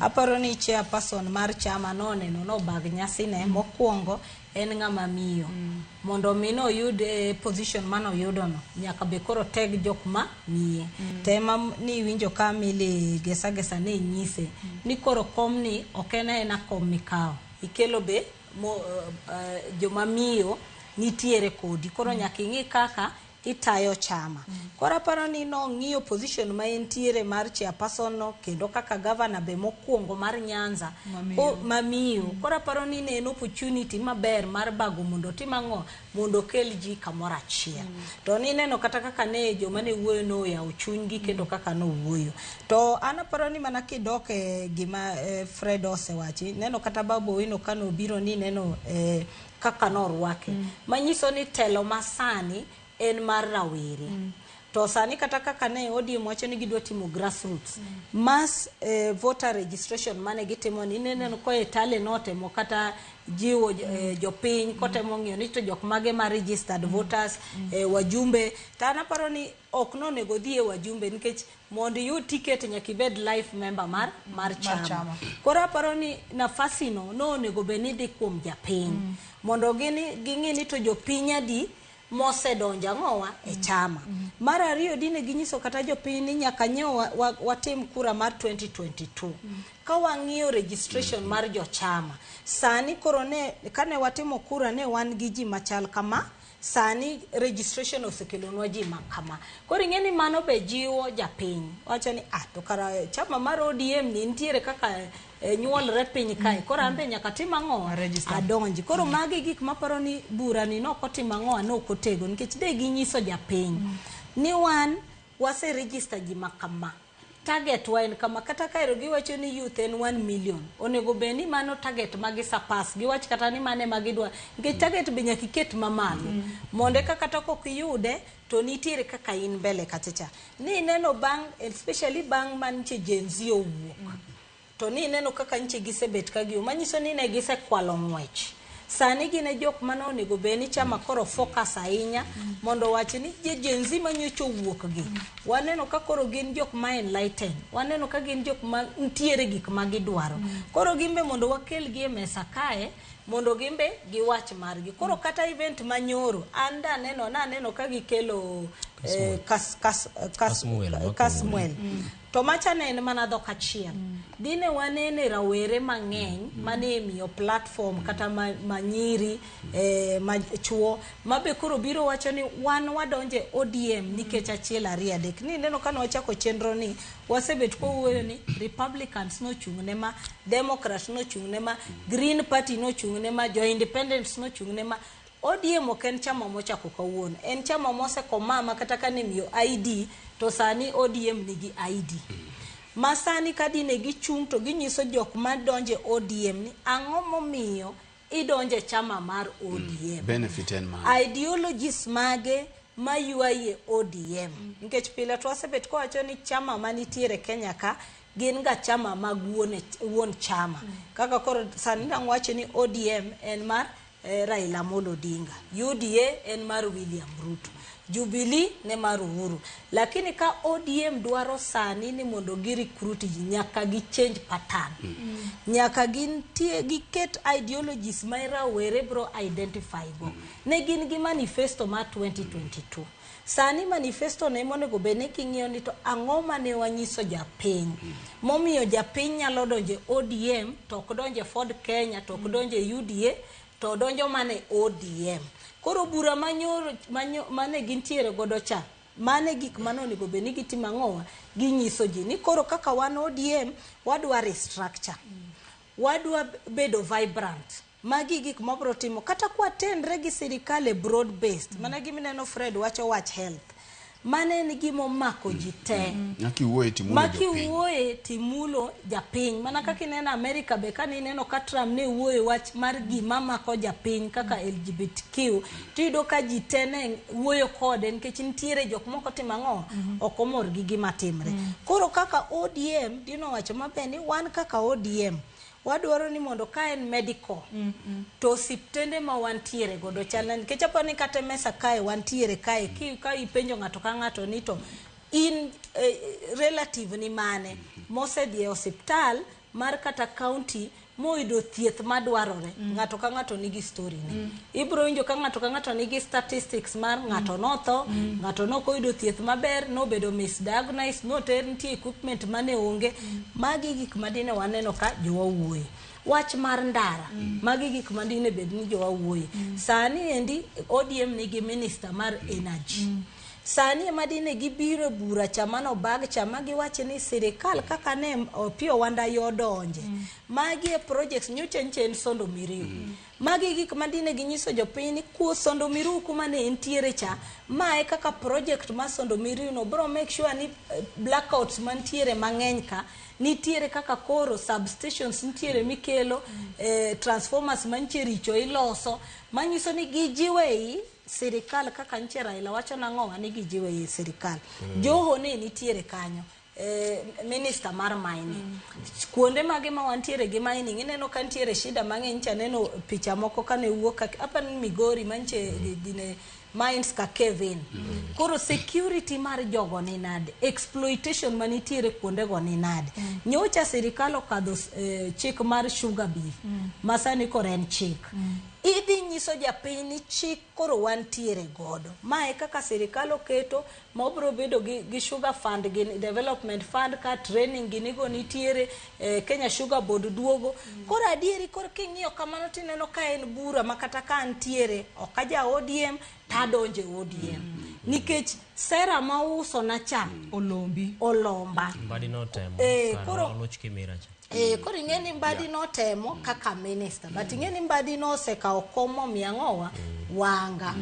Aparo ni chairperson mar chama noneno nobag nyasine mokwongo en ng'ama miyo. Mondo mi noyud eh, position manoyudono nyaka be koro teg jok ma miye. To ema m- niwinjo ka Milly Gesa Gesa ne nyise ni koro komni ok en aena kom mikawo. Ikelo be mo, eh, eh, joma miyo nitiere kodi. Koro nyaka ing'i kaka itayo chama. Koro aparo ni nong'iyo position ma entiere mar chairperson no kendo kaka governor be mokwongo mar Nyanza Mamiyo. ko- mamiyo. Koro aparo ni ne en opportunity maber mar bago mondo otim ang'o? Mondo okel ji kamoro achiel. To nineno kata kaka ne joma ne wuoyo noyawo chunygi kendo kaka nowuoyo. To an aparo ni mana kidok e gima eh, Fred osewachi, neno kata Babu Owino kano obiro ni neno eh, kaka norwake mm. manyiso ni telo masani en mar rawere mm. to sani kata kaka ne ODM wacho ni gidwa timo grassroots mm. mass eh, voter registration mane gitimo ni ineno ko e tale notemo kata jiwo eh, mm. eh, jopiny kotemo ng'iyo ni to jok mage ma registered mm. voters mm. eh, wajumbe to an aparo ni Ok nonego odhi e wajumbe nikech mondo iyud ticket nyaka ibed life member mar mar chama. chama. Koro aparo ni nafasi no nonego bed ni dhi kuom japiny mondo gini ging'i ni to jopiny adi mosedonjo ang'owa e chama. Mar ariyo dine ginyiso kata jopiny ni nyaka nyo wa- wa- watim kura mar 2022. Ka wang'iyo registration mar jochama sani koro ne kane watimo kura ne wan gi ji machal kama Sani registration osekelonwa ji ma kama. Koro ing'e ni mano be jiwo japiny. Wacho ni ah to kara chama mar ODM ni nitiere kaka eh, nyuolre piny kae. Mm, Koro an mm. be nyaka tim ang'o? Adonji. Koro mm. magi gik maparo ni bura ni noko tim ang'o an ok otego nikech de ginyiso japiny ni wan wase register ji ma kama. Target wa en kama, kata kaero giwacho ni youth en 1 million, onego bed ni mano target ma gi surpass, giwach kata ni mano ema gidwa, nikech target be nyaka iket mamalo, mondo eka kata kok iyude, to nitiere kaka in mbele kacha cha. Ni ineno bang' especially bang' mantie Gen-z owuok, To ni ineno kaka nyiche gisebet ka gium, manyiso ni ne gisekwalo ng'wech. Sani gin e jok mane onego bed ni chama koro focus ahinya mondo owachi ni je Gen Z manyocha owuok gi. Waneno ka koro gin jok ma enlightened. Waneno ka gin jok ma nitiere gik ma gidwaro. Koro gin be mondo wakel gi e mesa kae mondo gin be giwach margi. Koro kata event ma nyoro an daneno, naneno ka gikelo eh, kas, kas, kas, Kasmuel, Kasmuel. to macha ne en mana dhok achiel dine wanene rawere mang'eny mane miyo platform kata ma- manyiri eh, machuo ma be koro biro wacho ni wan wadonje odm nikech achiel ariyo adek ni neno kane wachako chenro ni wasebet kowuoyo ni republicans nochung' ne ma democrats nochung' ne ma green party nochung' ne ma jo independents nochung' ne ma ODM ok en chama mochako kawuono, en chama mosekomaa ma kata kane imiyo ID to sani ODM nigi ID. Ma sani ka dine gichung' to ginyiso jok madonjo e ODM ni ang'o momiyo idonjo e chama mar ODM. Benefit en mane? Ideologies mage maywayi e ODM. Nikech pile to wasebet kwawacho ni chama manitiere Kenya ka gin ga chama mag wuon, wuon chama. Kaka koro sani dang' wacho ni ODM en mar eh, Raila Amolo Odinga. UDA en mar William Ruto. Jubilee ne mar Uhuru. Lakini ka ODM dwaro sani ni mondo gi recruit ji nyaka gi change pattern. Nyaka gintie giket ideologies ma rawere bro identify go. Ne gin gi manifesto mar 2022. Sani manifesto ne monego bed ni king'iyo ni to ang'o mane wanyiso japiny hmm. momiyo japiny nyalo donje ODM to ok donje Ford Kenya to ok hmm. donje UDA to donjo mane ODM. Koro bura manyoro manyo mane gintiere godo cha mane gik mane onego bed ni gitimo ang'owa ginyiso ji ni koro kaka wan ODM wadwa restructure hmm. wadwa bedo vibrant Magi gik mabro timo kata kwa tenre gi sirikal e broad based. Mm. Mana gimi neno Fred wacho wach health. Mane en gima omako ji te. Mm. Maki wuoye timulo Maki japiny. Maki wuoye timulo japiny. Mana mm. kaka ineno Amerika be kani ineno ka Trump ne wuoye wach mar gima mako japiny kaka mm. LGBTQ. Tiyudo ka ji te ne wuoyo kode nikech nitiere jok moko timo ang'o mm -hmm. ok omor gi gima timre. Mm. Koro kaka ODM dino wacho maber ni wan kaka ODM. Wadwaro ni mondo ka en medical mm -hmm. to osiptende ma wantiere godo chalna nikech apo ni kata mesa kae wantiere kae ki, ka ipenjo ng'ato ka ng'ato ni to in eh, relative ni mane mm -hmm. mosedhi e osiptal mar kata county moyudo thieth madwarore mm -hmm. ng'ato ka ng'ato nigi story ne mm -hmm. ibiro winjo ka ng'ato ka ng'ato nigi statistics mar ng'ato mm. notho mm. ng'ato nok oyudo thieth maber nobedo misdiagnosed noter nitie equipment mane onge mm. magi gik madine waneno ka jowa wuoye wach mar ndara mm. magi gik madine bed ni jowa wuoye mm. sani endi odm nigi minister mar energy mm. sani ema dine gibiro e bura chama no bag chama giwacho ni sirikal kaka ne opiyo wanda yodonje mm. magi e projects nyocha nchen sondo miriu mm. Magi e gik ma dine ginyiso jopiny ni kuo sondo miriu kuma ne entiere cha. Ma e kaka project mar sondo miriu no biro make sure ni eh, blackouts mantiere mang'eny ka nitiere kaka koro substations nitiere mikelo eh, transformers mantie richo iloso manyiso ni gijiwe i sirikal kaka nche Raila wacho nang'owa ni gijiwe i sirikal. Joho ne nitiere kanyo. Eh, minister mar mining mm. kuonde mage ma wantiere gi mining ineno ka ntiere shida mang'eny cha neno picha moko kane wuok apa ni migori manche gine mines ka kevin mm. koro security mar jogo ni nade exploitation manitiere kuonde go ni nade mm. nyocha sirikal okadho eh, chik mar sugar beef mm. masani koro en chik mm. idhi nyiso japiny ni chik koro wantiere godo mae kaka sirikal oketo ma obiro bedo gi, gi sugar fund gi development fund ka training gini go nitiere eh, Kenya Sugar Board duogo koro adieri koro king'iyo kamano tineno ka en bura ma kata ka antiere ok aja ODM tadonje ODM nikech sera ma uso na cha olombi olomba mbadi notemo Eh, kar koro- oloch kimira cha Eh, koro ing'e ni mbadi notemo kaka minister but ing'e ni mbadi nosekawo kom momiyo ang'owa wanga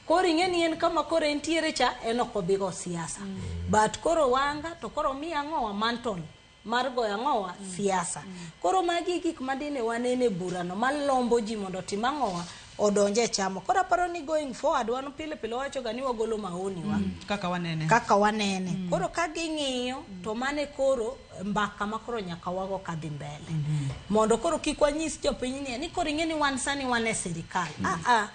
Koro ing'e ni en kama koro entiere cha en ok obi go siasa. Mm. But koro wanga to koro mi ang'owa mantle mar goyo ang'owa mm. siasa. Mm. Koro magi gik madine wanene e burano malombo ji mondo otim ang'owa odonje e chamo. Koro aparo ni going forward wan pile pile wacho ga ni wagolo maoni wa. Mm. Kaka wanene. Kaka wanene. Mm. Koro ka ging'iyo to mane koro mbaka ma koro nyaka wago ka dhi mbele. Mm -hmm. Mondo koro kik wanyis jopiny ni koro ing'e ni wan sani wan e sirikal. Mm. Ah ah.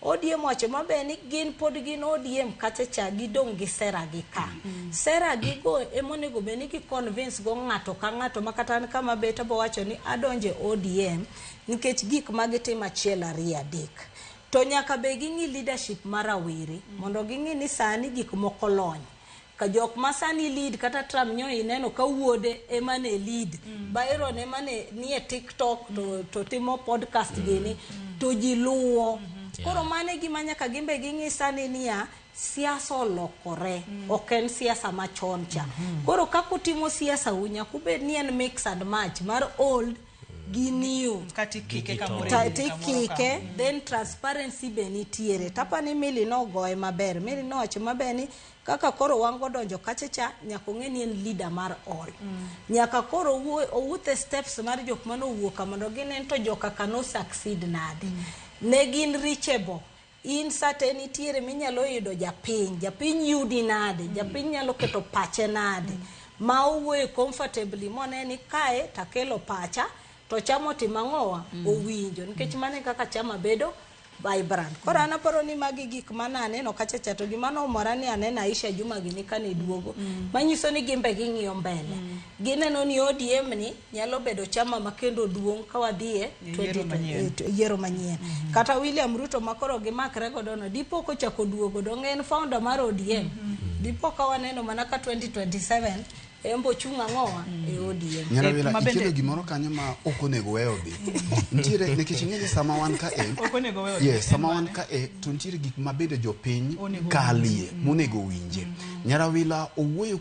Odiem wacho maber ni gin pod gin odiem kacha cha gidong' gi sera gi ka. Sera gi go emonego bed ni gi convince go ng'ato ka ng'ato ma kata an kama bet abo wacho ni adonje ODM nikech gik ma gitimo achiel ariyo adek. To nyaka be ging'i leadership ma rawere mondo ging'i ni sani gik moko lony. ka jok ma sani lead kata Trump nyo ineno ka wuode ema ne lead mm. Byron ema ne nie TikTok to, to timo podcast mm. gini mm. to ji luwo mm -hmm. yeah. koro mane gima nyaka gimbe ging'i sani niya siasa olokore mm. ok en siasa machon cha mm -hmm. koro kako timo siasa unya kubed ni en mix and match mar old giniu kati kike kamoro Ta- kamoro tikike kamoro. then transparency be nitiere tapa ni mili nogoye maber mili nowacho maber ni kaka koro wan godonjo kachacha nyaka ong'e ni en leader mar all nyaka koro owuo- owuoth e steps mar jok mane owuok ka mondo ginen to joka ka no succeed nade ne gin reachable in sate nitiere minyalo yudo japiny japiny yudi nade japiny nyalo keto pache nade ma owuoye comfortably mone ni kae takelo pacha to chama otima ng'owa mm. owinjo nikech mane kaka chama bedo vibrant koro an aparo ni magi gik mane aneno kacha cha to gima nomora ni aneno Aisha Juma gini kane duogo mm. manyiso ni gimbe ging'iyo mbele mm. Gineno ni ODM ni nyalo bedo chama ma kendo duong' ka wadhiye e yiero manyien. Kata William Ruto ma koro gimakre godo no, dipo kochako duogo dong' en founder mar ODM. Dipo ka waneno mana ka 2027 en bo chung' ang'owa e ODM. Nyarawila eh, ikelo gimoro kanyo ma ok onego weyo dhi. Nitiere nikech ing'e ni sama wan ka e. Ok onego weyo. Yes, sama wan ka e to nitiere gik ma bende jopiny kalie monego winje. Nyarawila owuoyo